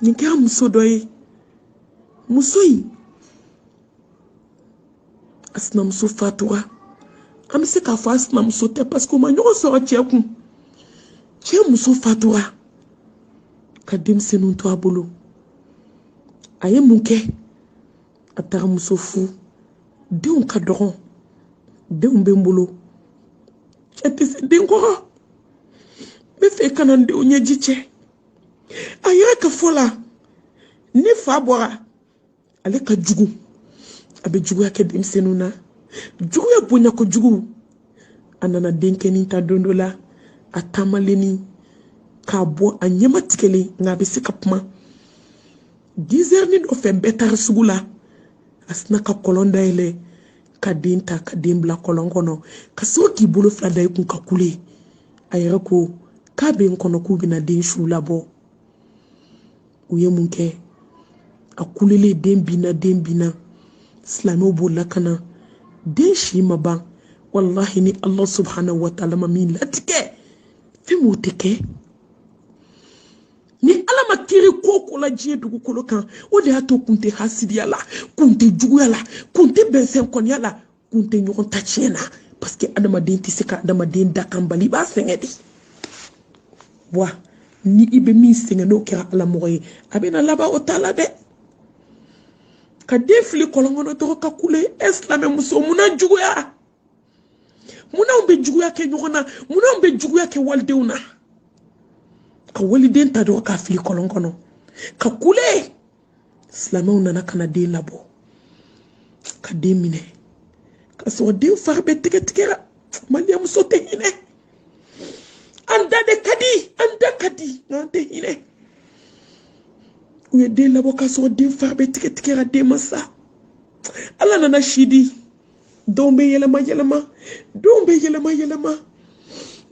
nin kɛra muso dɔ ye muso in a sinamuso fatura an bɛ se k'a fɔ a sinamuso tɛ parce que u ma ɲɔgɔn sɔrɔ cɛ kun cɛ muso fatura ka denmisɛnninw to a bolo a ye mun kɛ a taara muso furu denw ka dɔgɔn denw bɛ n bolo cɛ tɛ se den kɔrɔ n b'a fɛ ka na n denw ɲɛji cɛ a yɛrɛ ka fɔ la ni fa bɔra ale ka jugu a bɛ juguya kɛ denmisɛnninw na juguya bonya kojugu a nana denkɛnin ta don dɔ la a taamalenin k'a bɔ a ɲɛma tigɛlen nka a bɛ se ka kuma dizɛri ni dɔ fɛ bɛɛ taara sugu la a sinna ka kɔlɔn dayɛlɛ ka den ta ka den bila kɔlɔn kɔnɔ ka sɔrɔ k'i bolo fila da i kun ka kule a yɛrɛ ko k'a bɛ n kɔnɔ k'u bɛna den su labɔ u ye mun kɛ a kulelen den binna den binna silamɛw bolila ka na den si ma ban walahi ni ala subahana wa taala ma min latigɛ fɛn m'o tɛ kɛ ni ala ma kiri ko o ko la diɲɛ dugukolo kan o de y'a to kun tɛ hasidiya la kun tɛ juguya la kun tɛ bɛnsɛn kɔniya la kun tɛ ɲɔgɔn ta tiɲɛ na parce que adamaden tɛ se ka adamaden dakan bali i b'a sɛgɛn de wa ni i bɛ min sɛgɛn n'o kɛra ala mɔgɔ ye a bɛna laban o t'a la dɛ ka den fili kɔlɔn kɔnɔ dɔrɔn ka kule e silamɛ muso munna juguya munna an bɛ juguya kɛ ɲɔgɔn na munna an bɛ juguya kɛ walidenw na ka waliden ta dɔrɔn k'a fili kɔlɔn kɔnɔ ka kule silamɛw nana ka na den labɔ ka den minɛ ka sɔrɔ den fari bɛɛ tigɛ tigɛra maliyɛn muso tɛ hinɛ an da de ka di an da ka di nka an tɛ hinɛ u ye den labɔ k'a sɔrɔ den fari bɛɛ tigɛ tigɛra den ma sa ala nana si di donw bɛ yɛlɛma yɛlɛma donw bɛ yɛlɛma yɛlɛma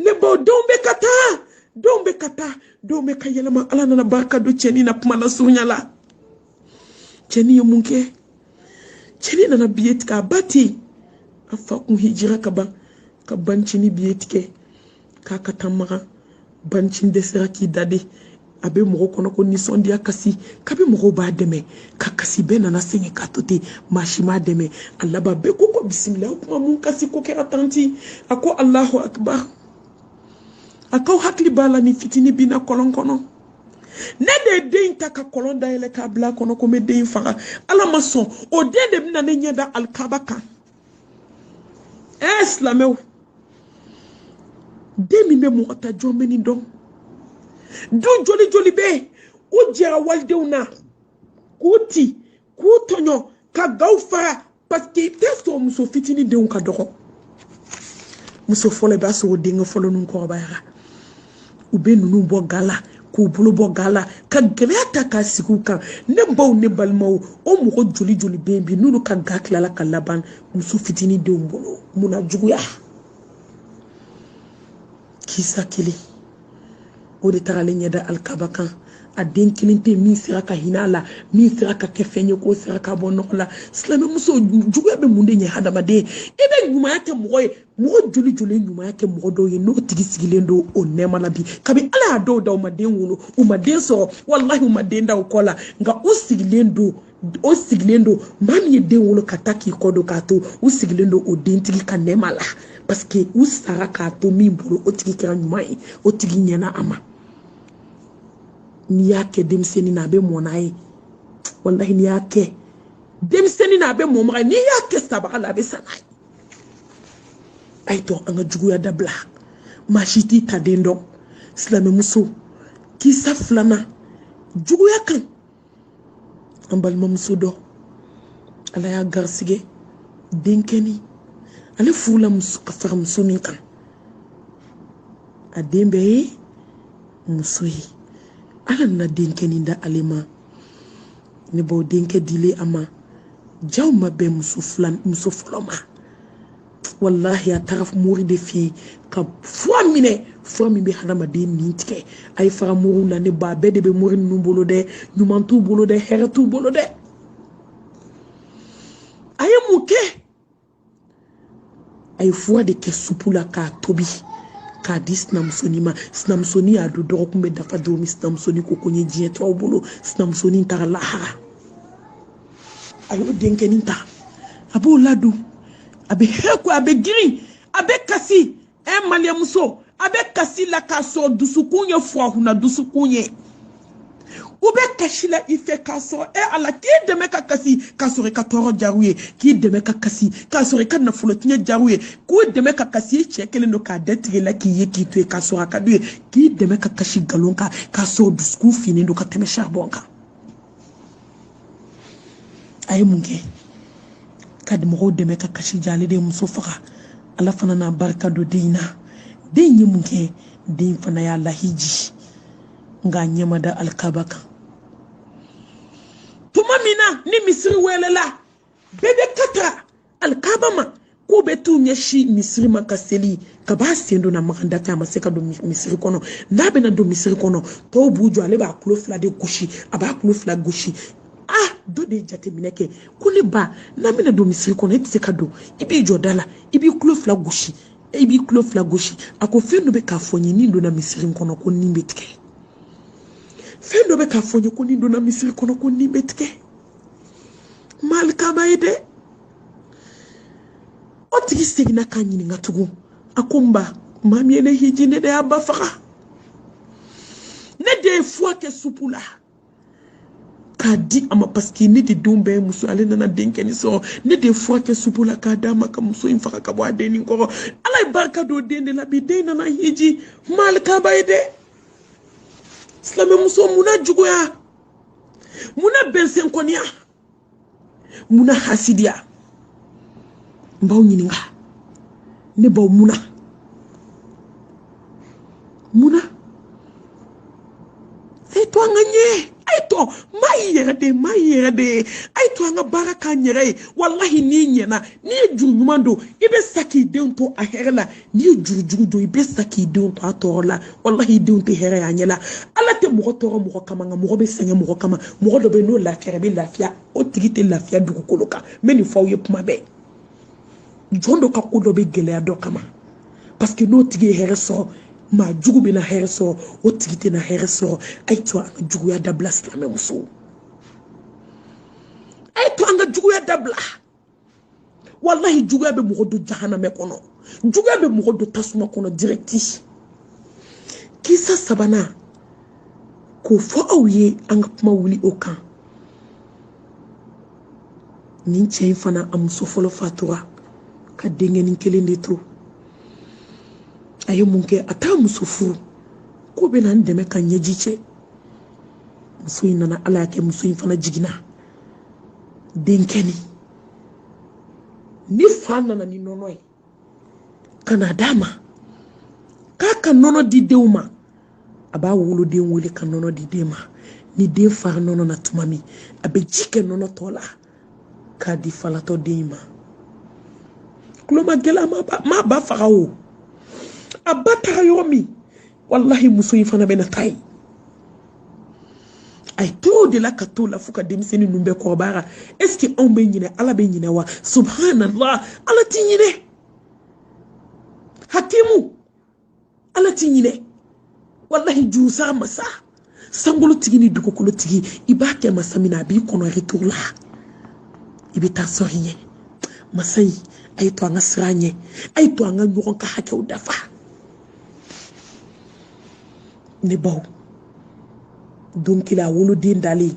ne baw donw bɛ ka taa donw bɛ ka taa donw bɛ ka yɛlɛma ala nana barika don cɛnin na kuma nasurunya la cɛnin ye mun kɛ cɛnin nana biye tigɛ a ba tɛ yen a fa kun hijira ka ban ka bancinin biye tigɛ k'a ka taa makan bancinin dɛsɛra k'i dade a bɛ mɔgɔ kɔnɔ ko nisɔndiya kasi kabi mɔgɔw b'a dɛmɛ ka kasi bɛɛ nana sɛgɛn k'a to ten maa si m'a dɛmɛ a laban bɛɛ ko ko bisimila o kuma mun kasi ko kɛra tanti a ko alahu akibar a k'aw hakili b'a la ni fitini binna kɔlɔn kɔnɔ ne de ye den ta ka kɔlɔn dayɛlɛ k'a bila a kɔnɔ ko n bɛ den faga ala ma sɔn o den de bɛna ne ɲɛ da alikaba kan ɛ silamɛw den min bɛ mɔgɔ ta jɔn bɛ nin dɔn du joli joli bɛ yen u jɛra walidenw na k'u ti k'u tɔɲɔ ka gaw fara paseke i tɛ sɔn muso fitinin denw ka dɔgɔ muso fɔlɔ i b'a sɔrɔ o denkɛ fɔlɔ ninnu kɔrɔbayara u bɛ ninnu bɔ ga la k'u bolo bɔ ga la ka gɛlɛya ta k'a sigi u kan ne baw ne balimaw o mɔgɔ joli joli bɛ yen bi n'olu ka ga tilala ka laban muso fitinin denw bolo munna juguya kisa kelen o de tagalen ɲɛ da alikaba kan a den kelen tɛ min sera ka hinɛ a la min sera ka kɛ fɛn ye k'o sera ka bɔ nɔgɔ la silamɛmuso juguya bɛ mun de ɲɛ hadamaden e bɛ ɲumanya kɛ mɔgɔ ye mɔgɔ joli joli ye ɲumanya kɛ mɔgɔ dɔw ye n'o tigi sigilen don o nɛɛma la bi kabi ala y'a dɔw da u ma den wolo u ma den sɔrɔ walahi u ma den da u kɔ la nka u sigilen don o sigilen don maa min ye den wolo ka taa k'i kɔ don k'a to u sigilen don o dentigi ka nɛɛma la paseke u sara k'a to min bolo o tigi kɛra ɲuman ye o tigi ɲɛna a ma n'i y'a kɛ denmisɛnnin na a bɛ mɔ n'a ye walahi n'i y'a kɛ denmisɛnnin na a bɛ mɔ maga n'i y'a kɛ sabaga la a bɛ sa n'a ye a ye to an ka juguya dabila maa si t'i ta den dɔn silamɛmuso kisa filanan juguya kan an balimamuso dɔ ala y'a garisɛgɛ denkɛni ale furula ka fara muso min kan a den bɛɛ ye muso ye ala nana denkɛni da ale ma ne b'o denkɛ dilen a ma ja o ma bɛn muso fɔlɔ ma walahi a taara mori de fɛ yen ka fura minɛ fura min bɛ hadamaden nin tigɛ a ye fara moriw la ne ba bɛɛ de bɛ mori ninnu bolo dɛ ɲuman t'u bolo dɛ hɛrɛ t'u bolo dɛ a ye mun kɛ a ye fura de kɛ supu la k'a tobi k'a di sinamusonin ma sinamusonin y'a dun dɔgɔkun bɛ dafa don min sinamusonin ko ko n ye diɲɛ to aw bolo sinamusonin taara lahara a y'o denkɛnin ta a b'o ladon a bɛ hɛrɛ ko a bɛ girin a bɛ kasi ɛ eh, maliyɛnmuso a bɛ kasi la k'a sɔrɔ dusukun ye firahuna dusukun ye u bɛ kasi la i fɛ k'a sɔrɔ e ala k'i dɛmɛ ka kasi k'a sɔrɔ i ka tɔɔrɔ diyara u ye k'i dɛmɛ ka kasi k'a sɔrɔ i ka nafolo tiɲɛ diyara u ye k'i dɛmɛ ka kasi i cɛ kelen don k'a dɛtigɛ la k'i ye k'i to yen k'a sɔrɔ a ka d'u ye k'i dɛmɛ ka kasi nkalon kan k'a sɔrɔ dusukun finnen don ka tɛmɛ saribɔn kan a ye mun kɛ ka mɔgɔw dɛmɛ ka kasi ja ale de ye muso faga ala fana n'a barika don den in na den in ye mun kɛ den fana y'a lahiji nka a ɲɛ ma da alikaba kan tuma min na ni misiri welela bɛɛ bɛ ka ta alikaba ma k'u bɛ t'u ɲɛsin misiri ma ka seli k'a b'a sen don na makan da fɛ a ma se ka don misiri kɔnɔ n'a bɛna don misiri kɔnɔ tɔw b'u jɔ ale b'a kulo fila de gosi a b'a kulo fila gosi ah dɔ de ye jateminɛ kɛ ko ne ba n'an bɛna don misiri kɔnɔ e tɛ se ka don i b'i jɔ da la i b'i kulo fila gosi i b'i kulo fila gosi a ko fɛn dɔ bɛ k'a fɔ n ye ni n donna misiri kɔnɔ ko nin bɛ tigɛ fɛn dɔ bɛ k'a fɔ n ye ko ni n donna misiri kɔnɔ ko nin bɛ tigɛ malikaba ye dɛ o tigi seginna k'a ɲininka tugun a ko n ba maa min ye ne hiji ne de y'a ba faga ne de ye fuwa kɛ supu la k'a di a ma paseke ne de denw bɛɛ ye muso ale nana denkɛnin sɔrɔ ne de ye fuwa kɛ supu la k'a d'a ma ka muso in faga ka bɔ a dennin kɔrɔ ala ye barika don den de la bi den nana hiji malikaba ye dɛ silamɛmuso mun na juguya mun na bɛnsɛnkɔniya mun na hasidiya n b'aw ɲininka ne b'aw mun na mun na a ye to an ka ɲɛ a ye to maa y'i yɛrɛ de ye maa y'i yɛrɛ de ye a ye to an ka baara k'an yɛrɛ ye walahi n'i ɲɛna n'i ye juru ɲuman don i bɛ sa k'i denw to a hɛrɛ la n'i ye juru jugu don i bɛ sa k'i denw to a tɔɔrɔ la walahi i denw tɛ hɛrɛ y'a ɲɛ la ala tɛ mɔgɔ tɔɔrɔ mɔgɔ kama nka mɔgɔ bɛ sɛgɛn mɔgɔ kama mɔgɔ dɔ bɛ yen n'o lafiyara bɛ lafiya o tigi tɛ lafiya dugukolo kan n bɛ nin fɔ aw ye kuma bɛɛ jɔn dɔ ka ko dɔ bɛ gɛlɛya dɔ kama paseke n'o tigi ye hɛrɛ sɔrɔ maa jugu bɛna hɛrɛ sɔrɔ o tigi tɛna hɛrɛ sɔrɔ a ye to an ka juguya dabila silamɛmusow a ye to an ka juguya dabila walahi juguya bɛ mɔgɔ don jahanamɛ kɔnɔ juguya bɛ mɔgɔ don tasuma kɔnɔ dirɛkiti kisa sabanan k'o fɔ aw ye an ka kuma wuli o kan nin cɛ in fana a muso fɔlɔ fatura ka denkɛnin kelen de to a ye mun kɛ a taa muso furu k'o bɛna n dɛmɛ ka ɲɛji cɛ muso in nana ala y'a kɛ muso in fana jiginna denkɛnin ni fa nana ni nɔnɔ ye ka na d'a ma k'a ka nɔnɔ di denw ma a b'a woloden wele ka nɔnɔ di den ma ni den fara nɔnɔ na tuma min a bɛ ji kɛ nɔnɔ tɔ la k'a di falatɔ den ma kulomagɛlɛya m'a ba faga o a ba taara yɔrɔ min walahi muso in fana bɛna taa yen a ye t'o de la ka t'o la fo ka denmisɛnnin ninnu bɛɛ kɔrɔbayara ɛseke anw bɛ ɲinɛ ala bɛ ɲinɛ wa subhanallah ala ti ɲinɛ hakimu ala ti ɲinɛ walahi jurusara masa sankolotigi ni dugukolotigi i b'a kɛ masa min na a b'i kɔnɔ retour la i bɛ t'a sɔrɔ i ɲɛ masa in a ye to an ka siran a ɲɛ a ye to an ka ɲɔgɔn ka hakɛw dafa ne baw don kelen a woloden dalen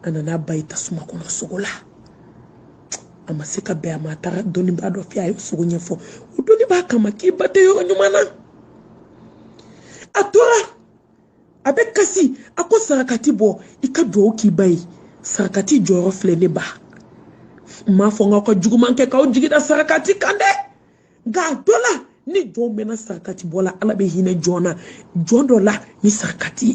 a nana ba ye tasuma kɔnɔ sugo la a ma se ka bɛn a ma a taara dɔnnibaa dɔ fɛ a ye sugo ɲɛfɔ o dɔnnibaa k'a ma k'i ba tɛ yɔrɔ ɲuman na a tora a bɛ kasi a ko sarakati bɔ i ka dugawu k'i ba ye sarakati jɔyɔrɔ filɛ ne ba n m'a fɔ n k'aw ka juguman kɛ k'aw jigi da sarakati kan dɛ nka a dɔ la ni jɔn mɛnna sarakati bɔ la ala bɛ hinɛ jɔn na jɔn dɔ la ni sarakati ye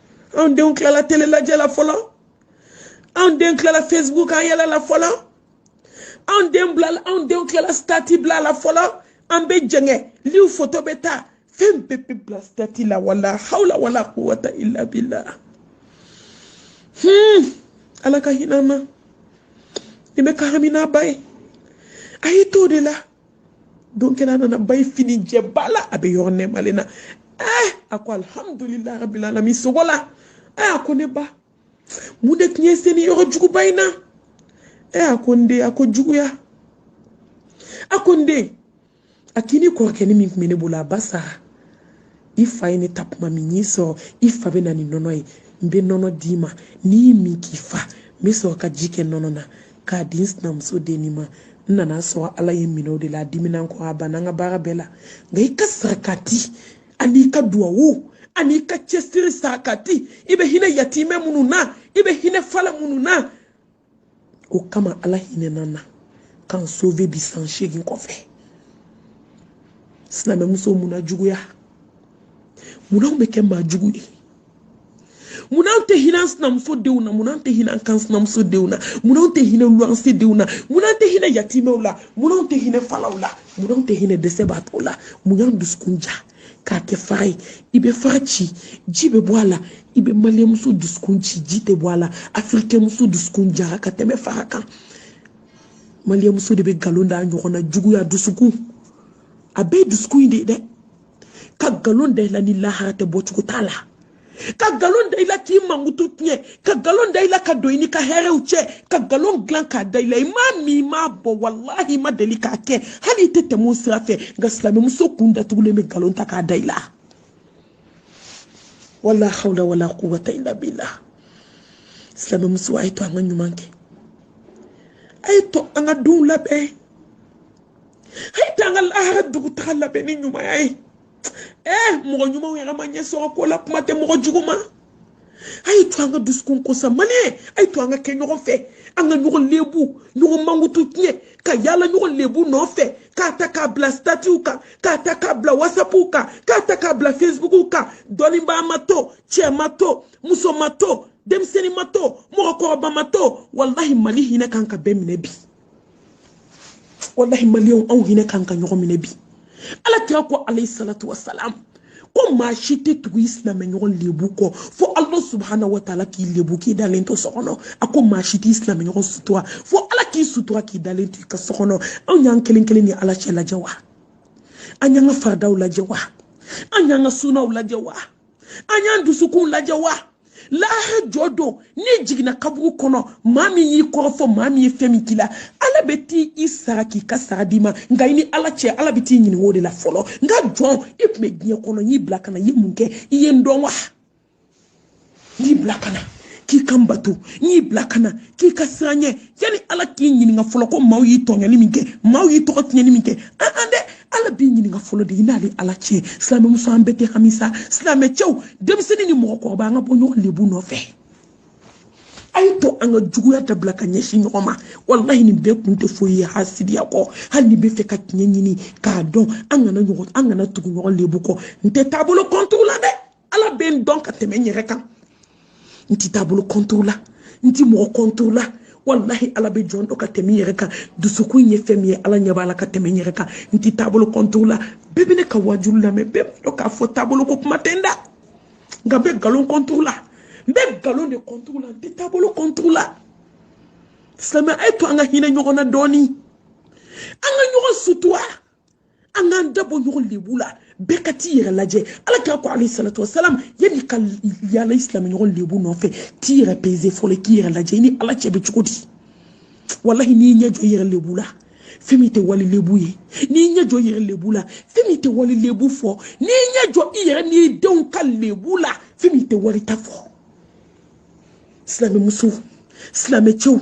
anw denw tilala telelajɛ la fɔlɔ anw den tilala facebook kan yaala la fɔlɔ anw den bila anw denw tilala stati bila la fɔlɔ an bɛ jɛngɛ liw foto bɛɛ ta fɛn bɛɛ bɛ bila stati la wala hawla wala quwwata illa billah hmm ala ka hinɛ an na nin bɛ ka hami n'a ba ye a y'i to o de la don kelen a nana ba ye fini jɛba la a bɛ yɔrɔ nɛɛmalen na ɛɛ a ko alihamudulilayi rabil alamin sugo la ɛɛ a ko ne ba mun de tun y'e se nin yɔrɔ juguba in na ɛɛ a ko n den a ko juguya a ko n den a k'i nin kɔrɔkɛnin min tun bɛ ne bolo a ba sara i fa ye ne ta kuma min n y'i sɔrɔ i fa bɛ na ni nɔnɔ ye n bɛ nɔnɔ d'i ma n'i y'i min k'i fa n bɛ sɔrɔ ka ji kɛ nɔnɔ na k'a di n sinamuso dennin ma n nana sɔrɔ ala ye n minɛ o de la a dimina n kɔrɔ a banna n ka baara bɛɛ la nka i ka sarakati an'i ka duwawu an'i ka cɛsiri sarakati i bɛ hinɛ yatimɛ minnu na i bɛ hinɛ fala minnu na o kama ala hinɛna n na ka n sove bi san seegin kɔfɛ silamɛmuso munna juguya munna anw bɛ kɛ maa jugu ye munna anw tɛ hinɛ an sinamuso denw na munna anw tɛ hinɛ an kanɲamuso denw na munna anw tɛ hinɛ luwanse denw na munna anw tɛ hinɛ yatimɛw la munna anw tɛ hinɛ falaw la munna anw tɛ hinɛ dɛsɛbaatɔw la mun y'an dusukun ja k'a kɛ fara ye i bɛ fara ci ji bɛ bɔ a la i bɛ maliyɛnmuso dusukun ci ji tɛ bɔ a la afirikɛnmuso dusukun jara ka tɛmɛ fara kan maliyɛnmuso de bɛ nkalon da ɲɔgɔn na juguya dusukun a bɛɛ ye dusukun in de ye dɛ ka nkalon da i la ni lahara tɛ bɔcogo t'a la ka galon da i la k'i mankutu tiɲɛ ka galon da i la ka don i n'i ka hɛrɛw cɛ ka galon dilan k'a da i la i m'a min i m'a bɔn walahi i ma deli k'a kɛ hali i tɛ tɛmɛ o sira fɛ nka silamɛmuso kun datugulen bɛ galon ta k'a da i la wala hawla wala quwwata illa billah silamɛmuso a ye to an ka ɲuman kɛ a ye to an ka denw labɛn a ye to an ka lahara dugutaga labɛn ni ɲumanya ye ee mɔgɔ ɲumanw yɛrɛ ma ɲɛ sɔrɔ ko la kuma tɛ mɔgɔ jugu ma a y'i to an ka dusukun ko sa maliyɛn a y'i to an ka kɛ ɲɔgɔn fɛ an ka ɲɔgɔn lebu ɲɔgɔn mankutu tiɲɛ ka yaala ɲɔgɔn lebu nɔfɛ k'a ta k'a bila statiw kan k'a ta k'a bila wasapuw kan k'a ta k'a bila fesibukuw kan dɔnnibaa ma to cɛ ma to muso ma to denmisɛnnin ma to mɔgɔkɔrɔba ma to walahi mali hinɛ kan ka bɛɛ minɛ bi walahi maliyɛnw anw hinɛ kan ka ɲɔgɔn minɛ bi ala kira ko alayhi salatu wasalam ko maa si tɛ tugu i silamɛɲɔgɔn lebu kɔ fo ala subahana wa taala k'i lebu k'i dalen to so kɔnɔ a ko maa si t'i silamɛɲɔgɔn sutura fo ala k'i sutura k'i dalen to i ka so kɔnɔ anw y'an kelen kelen ni ala cɛ lajɛ wa an y'an ka faradaw lajɛ wa an y'an ka sunaw lajɛ wa an y'an dusukunw lajɛ wa lahara jɔ don n'i jiginna kaburu kɔnɔ maa min y'i kɔrɔfɔ maa min ye fɛn min k'i la ala bɛ t'i sara k'i ka sara d'i ma nka i ni ala cɛ ala bɛ t'i ɲininka o de la fɔlɔ n ka jɔn i tun bɛ diɲɛ kɔnɔ n y'i bila ka na i ye mun kɛ i ye n dɔn wa n y'i bila ka na k'i ka n bato n y'i bila ka na k'i ka siran n ɲɛ yani ala k'i ɲininka fɔlɔ ko maaw y'i tɔɲɔni min kɛ maaw y'i tɔgɔ tiɲɛni min kɛ an an dɛ ala b'i ɲininka fɔlɔ de i n'ale ala cɛ silamɛmuso an bɛɛ tɛ hami sa silamɛcɛw denmisɛnnin ni mɔgɔkɔrɔba an ka bɔ ɲɔgɔn lebu nɔfɛ a ye to an ka juguya dabila ka ɲɛsin ɲɔgɔn ma walahi nin bɛɛ kun tɛ foyi ye hasidiya kɔ hali n'i b'a fɛ ka tiɲɛ ɲini k'a dɔn an kana ɲɔgɔn an kana tugu ɲɔgɔn lebu kɔ n tɛ taabolo kɔntiri la dɛ ala bɛ n dɔn ka tɛmɛ n yɛrɛ kan n tɛ taabolo kɔntiri la n tɛ mɔgɔ kɔntiri la walahi ala bɛ jɔn dɔn ka tɛmɛ n yɛrɛ kan dusukun ye fɛn min ye ala ɲɛ b'a la ka tɛmɛ n yɛrɛ kan n tɛ taabolo kɔntiri la bɛɛ bɛ ne ka wajuw lamɛn bɛɛ b'a dɔn k'a fɔ taabolo ko kuma tɛ n da nka n bɛ nkalon kɔntiri la n bɛ nkalon de kɔntiri la n tɛ taabolo kɔntiri la silamɛ a ye to an ka hinɛ ɲɔgɔn na dɔɔnin an ka ɲɔgɔn sutura an k'an da bɔ ɲɔgɔn lebu la bɛɛ ka t'i yɛrɛ lajɛ ala kira ko alayhi salatu wasalam yanni ka yaala i silamɛɲɔgɔn lebu nɔfɛ t'i yɛrɛ peze fɔlɔ k'i yɛrɛ lajɛ i ni ala cɛ bɛ cogo di walahi n'i ɲɛ jɔ i yɛrɛ lebu la fɛn min tɛ wali lebu ye n'i ɲɛ jɔ i yɛrɛ lebu la fɛn min tɛ wali lebu fɔ n'i ɲɛ jɔ i yɛrɛ n'i denw ka lebu la fɛn min tɛ wali ta fɔ silamɛmuso silamɛcɛw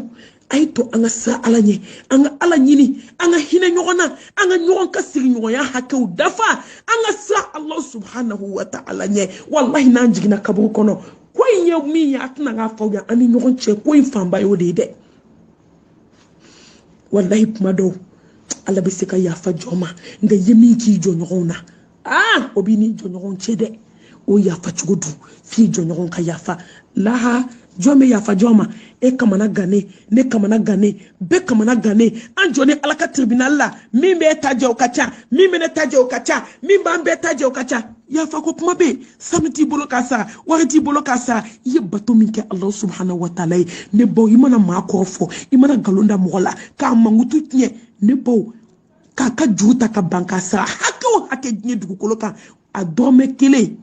a ye to an ka siran ala ɲɛ an ka ala ɲini an ka hinɛ ɲɔgɔn na an ka ɲɔgɔn ka sigiɲɔgɔnya hakɛw dafa an ka siran ala subhanahu wa ta'ala ɲɛ walahi n'an jiginna kaburu kɔnɔ ko in ye min ye a tɛna k'a fɔ yan an ni ɲɔgɔn cɛ ko in fanba y'o de ye dɛ walahi kuma dɔw ala bɛ se ka yafa jɔn ma nka i ye min k'i jɔnɲɔgɔnw na aa o b'i ni jɔɲɔgɔn cɛ dɛ o yafa cogo dun f'i jɔɲɔgɔn ka yafa lahara jɔn bɛ yafa jɔn ma e kamana gannen ne kamana gannen bɛɛ kamana gannen an jɔnin ala ka tribinal la min b'e ta jɛ o ka ca min bɛ ne ta jɛ o ka ca min b'an bɛɛ ta jɛ o ka ca yafa ko kuma bɛ yen sanu t'i bolo k'a sara wari t'i bolo k'a sara i ye bato min kɛ ala subahana wataala ye ne baw i mana maa kɔrɔfɔ i mana nkalon da mɔgɔ la k'a mankutu tiɲɛ ne baw k'a ka juru ta ka ban k'a sara hakɛ o hakɛ diɲɛ dugukolo kan a dɔrɔmɛ kelen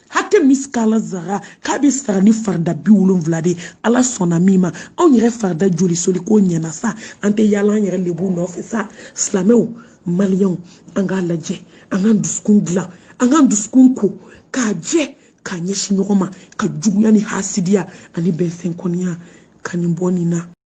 hakɛ misikala zara k'a bɛ sara ni farida bi wolonwula de ala sɔnna min ma anw yɛrɛ farida joli seli ko ɲɛna sa an tɛ yaala an yɛrɛ lebu nɔfɛ sa silamɛw maliyɛnw an k'a lajɛ an k'an dusukun dilan an k'an dusukun ko k'a jɛ k'a ɲɛsin ɲɔgɔn ma ka juguya ni hasidiya ani bɛnfɛnkɔniya ka nin bɔ nin na